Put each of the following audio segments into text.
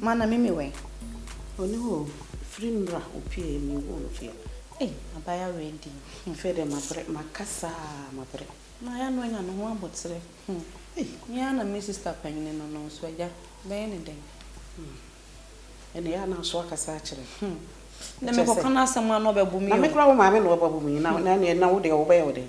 Mana me me wɛn. Oni hɔ o, firi mmra opie me wo no fie. Ei abaya wei di. Afei deɛ mabrɛ, makasa a mabrɛ. Na ya no anya ne ho abotere. Ei me ara na me sister panyini no no nso agya bɛyɛ ne dɛn. Ɛna ya na nso akasa akyerɛ. Na me kɔka no asɛm a na ɔbɛbu me o. Na me kora wo maame na ɔbɛbu me na na na wo deɛ ɔbɛyɛ wo dɛn.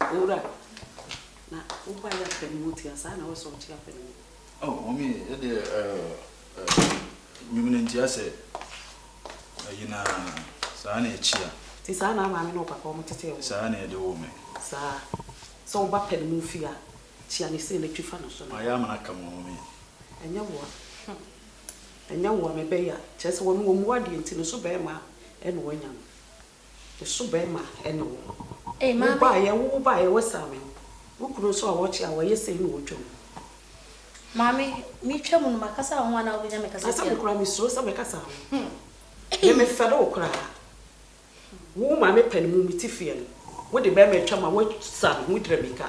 Owura, na wo ba yɛ afɛ ne mu tia saa na wo sɛ ɔkye afɛ ne mu? Oh, Mommy, ɛdeɛ, eh, eh, Nwumene ntia sɛ ayi na saa na ɛkyia. Nti saa na Maame ne wo Papa wɔn tetee wo? Saa na yɛde woo me. Saa. Sɛ wo ba pɛ ne mu fie a, kyia ne sei na twi fa ne so na kɔ. Mayɛ amena aka mo, Mommy. Ɛnyɛ wo a, hmm, ɛnyɛ wo a, mebɛyɛ a, kyerɛ sɛ wɔn wɔn mmu adeɛ nti ne so bɛɛma a ɛna wɔanya no. Me so bɛɛma ɛne wo. Wo baayɛ wo baayɛ wo saa me. Wo kunu nso a ɔkye a ɔyɛ sei na ɔtwa mu. Maame me twa mu no ma kasa wo ho anaa wo bɛnya me kasa tia. Asɛm koraa me suro sɛ me kasa ho. Me me fɛre wo koraa. Wo wo maame pɛ no mu me ti feɛ no. Wo de bɛɛma atwa mu a wo saa me ho wo dira mirika.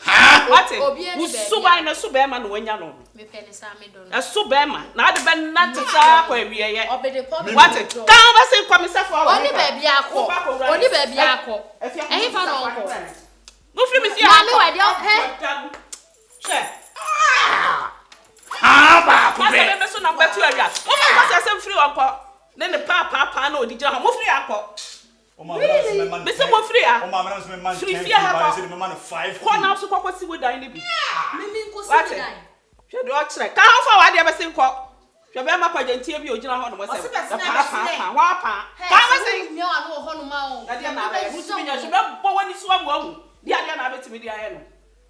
Haa! Wate? Wo suban no, ɛso bɛrima na wanya no no. Ɛso bɛrima, na ade bɛnante saa akɔ awieɛ. Wate? Kaa wo bɛse nkɔ me sɛfo awɔ hefa? Woba kɔwura me fie. Ɛfie afa mo sika kɔbrɛ me. Wofiri me fie ha nkɔ. Nkɔda mu. Hwɛ. Haa baako pɛ. Asɛm me so na mbɛto awia. Mofa nkɔsi asɛm firi hɔ nkɔ. Ne ne paapaapaa na ɔde gyina hɔ. Mofiri ha nkɔ. Mese kɔ firi ha, firi fie ha kɔ, kɔ na nso kɔ kɔ si wo dan no bi. Wate? Hwɛ deɛ ɔkyerɛ. Ka ho fa w'adeɛ bɛse nkɔ. Hwɛ bɛrima kwagyantia bi ɔgyina hɔ nom sɛ bɛpaapaa hɔ paa. Ka ho bɛse. Ɛdeɛ na abɛyɛ. Wontumi nyɛ hwee. Bɛbɔ w'ani so ama wahu. Deɛ adeɛ na abɛtumi de ayɛ no.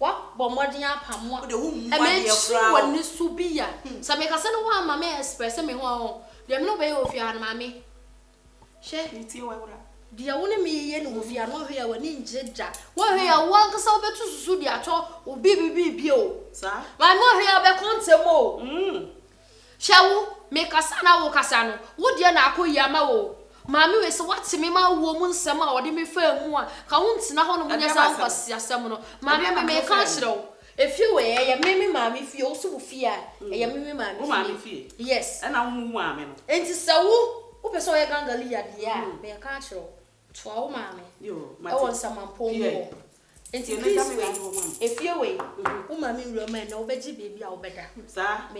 Wabɔ mmɔden apa mo a, mekyiri wɔ ne so bi a, sɛ mekasa na wamma me express me ho a, ɔn, deɛ me ne wo bɛyɛ wɔ fie ha no, maame, hwɛ, deɛ wo ne me yɛ no wɔ fie ha no, woanhwɛ yie a w'ani nngye da, woanhwɛ yie a w'ankasa wobɛtu susu de atɔ wo biribi biribi o, maame woanhwɛ yie a wobɛkɔ ntɛm o. Hwɛ wo, mekasa na wokasa no, wo deɛ na akɔ yie ama wo o. Maame wei sɛ woate me ma awuo mu nsɛm a ɔde me faa mu a, nka wontena hɔ nom nyɛ saa nkwaseasɛm no. Maame me meka nkyerɛ wo, efie wei ɛyɛ me me maame fie, wo so wo fie a, ɛyɛ me me maame fie. Yes. Ɛna wo mu wo maame no. Enti sɛ wo, wopɛ sɛ ɔyɛ Gangaliya deɛ a, meka nkyerɛ wo, Toa wo maame wɔ nsamanpɔn mu hɔ. Enti Chris wei, efie wei, wo maame nwura mu a ɛnnɛ wobɛgye baabi a wobɛda.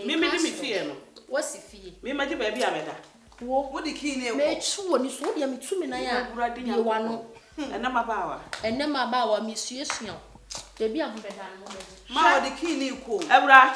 Meka aseɛ no, woasi fie. Me mɛgye baabi a mɛda. Wo, metwe w'ani so, wo deɛ metu me nan a, bue w'ano. Ɛnnɛ m'abaawa. Ɛnnɛ m'abaawa, mesuasua wo. Baabi a mobɛda no, mobɛgye. Ma wɔde key no rekɔ o. Awura.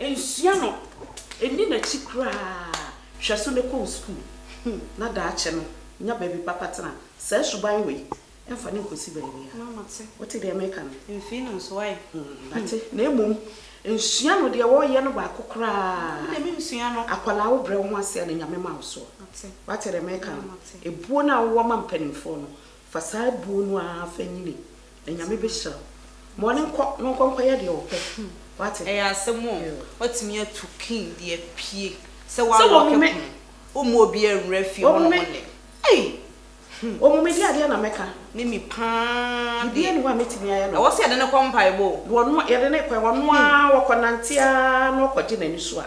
Nsua no, nni n'akyi koraa. Hwɛ so na kɔ wo sukuu na daakye no nya baabi papa tena. Saa suban wei, mfa no nkɔsi baabiara. Wote deɛ meka no? Mfii no nso ɛ? Mate. Na mmom, nsua no deɛ wɔreyɛ no baako koraa. Me deɛ mensua no. Akwadaa, wobrɛ wo ho ase a na Nyame ma wo soɔ. Mate. Woate deɛ meka no? Mate. Ebuo no a wowɔ ma mpanimfoɔ no, Fa saa buo no ara fa nyini, na Nyame bɛhyira wo. Ma ɔno nkɔ na ɔnkɔ nkɔyɛ deɛ ɔpɛ. Wate? Ɛyɛ asɛm o, watumi atu king de apue sɛ wa lock pono, womma obiara nwura fie hɔ nom nnɛ. Ei! Hmm. Wɔmu me deɛ adeɛ na mɛka. Ne me paa deɛ. Biribiara nni hɔ a mɛtumi ayɛ no. Ɛwɔ sɛ yɛde no kɔ mpaebɔ o. Wɔno, yɛde no kɔ, ɔno ara, ɔkɔ nante ara na ɔkɔgye n'ani so a.